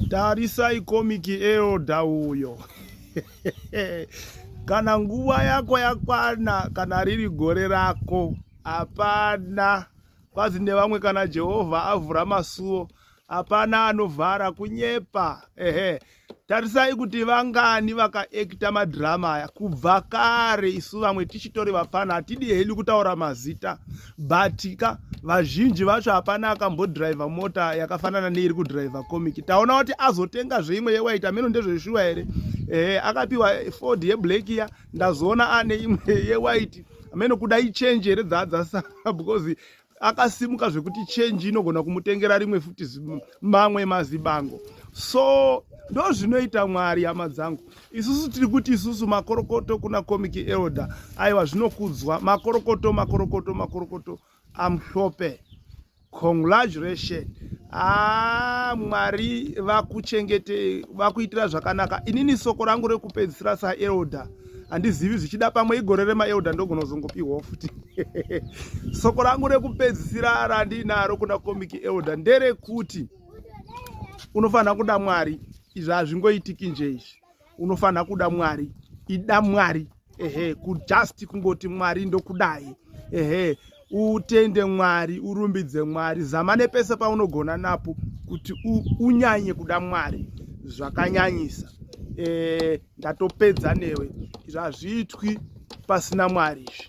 tarisai komiki elda uyo kana nguva yako yakwana kana riri gore rako hapana kwazi nevamwe kana jehovha avhura masuo hapana anovhara kunyepa ehe tarisai kuti vangani vakaekita madhirama aya kubva kare isu vamwe tichitori vapfana hatidi hedu kutaura mazita but ka vazhinji vacho hapana akambodriver mota yakafanana neiri kudriver comic taona kuti azotenga zveimwe yewaiti ameno ndezveshuwa here eh, akapiwa ford yeblack ya ndazoona ane imwe yewaiti ameno kuda ichange here dzaadzasa because akasimuka zvekuti change inogona kumutengera rimwe futi mamwe mazibango so ndozvinoita mwari hama dzangu isusu tiri kuti isusu makorokoto kuna comic elder aiwa zvinokudzwa makorokoto makorokoto makorokoto amhlope congratulation haa ah, mwari vakuchengete vakuitira zvakanaka inini soko rangu rekupedzisira saelder handizivi zvichida pamwe igore remaelder ndogona kuzongopiwawo futi soko rangu rekupedzisira randiinaro kuna comic elder nderekuti unofanira kuda mwari izvi hazvingoitiki nje izvi unofanira kuda mwari ida mwari ehe kujust kungoti mwari ndokudai ehe utende mwari urumbidze mwari zama nepese paunogona napo kuti unyanye kuda mwari zvakanyanyisa e, ndatopedza newe izvi hazviitwi pasina mwari izvi